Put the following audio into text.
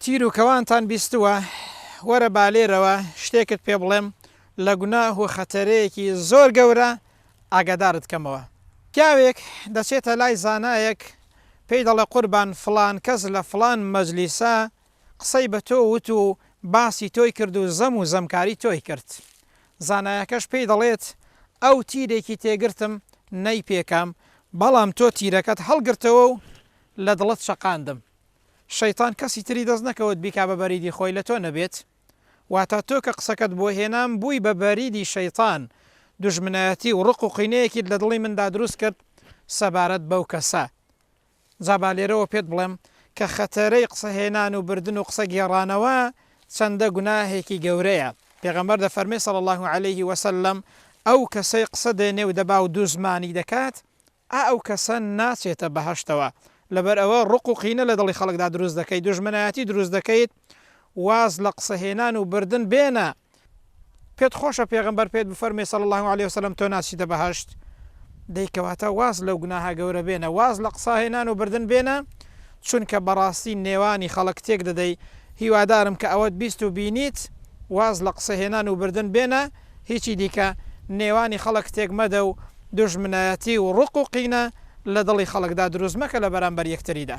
تیر و کەوانتان بیستووە وەرە بالێرەوە شتێکت پێ بڵێم لە گوناه و خەتەرەیەکی زۆر گەورە ئاگادارت کەمەوە پیاوێک دەچێتە لای زانایەک پێی دەڵێ قوربان فلان کەس لە فلان مەجلیسە قسەی بە تۆ وت و باسی تۆی کرد و زەم و زەمکاری تۆی کرد. زانایەکەش پێی دەڵێت، ئەو تیرێکی تێگرتم نەی پێکام، بەڵام تۆ تیرەکەت هەڵگرتەوە و لە دڵت چەقاندم. شەیتان کەسی تری دەست نەکەوت بیکا بە بەریدی خۆی لە تۆ نەبێت. واتە تۆ کە قسەکەت بۆ هێنام بووی بە بەریدی شەیتان، دوژمنایەتی و ڕق و قینەیەکیت لە دڵی مندا دروست کرد سەبارەت بەو کەسە. جا با لێرەوە پێت بڵێم کە خەتەرەی قسە هێنان و بردن و قسە گێڕانەوە چەندە گوناهێکی گەورەیە، پێغەمبەر دەفەرمێ صلی اللە علیه و سلم، ئەو کەسەی قسە دێنێ و دەبا و دوزمانی دەکات، ئا ئەو کەسە ناچێتە بەهەشتەوە، لەبەر ئەوە ڕق و قینە لە دڵی خەڵکدا دروست دەکەیت، دوژمنایەتی دروست دەکەیت، واز لە قسە هێنان و بردن بێنە، پێت خۆشە پێغەمبەر پێت بفەرموێ صلی اللە علیە وسلم تۆ ناچیتە بەهەشت؟ دەی کەواتە واز لەو گوناهە گەورە بێنە، واز لە قسە هێنان و بردن بێنە، چونکە بەڕاستی نێوانی خەڵک تێک دەدەی، هیوادارم کە ئەوەت بیست و بینیت، واز لە قسە هێنان و بردن بێنە، هیچی دیکە نێوانی خەڵک تێک مەدە و دوژمنایەتی و ڕق و قینە لە دڵی خەڵکدا دروست مەکە لە بەرامبەر یەکتریدا.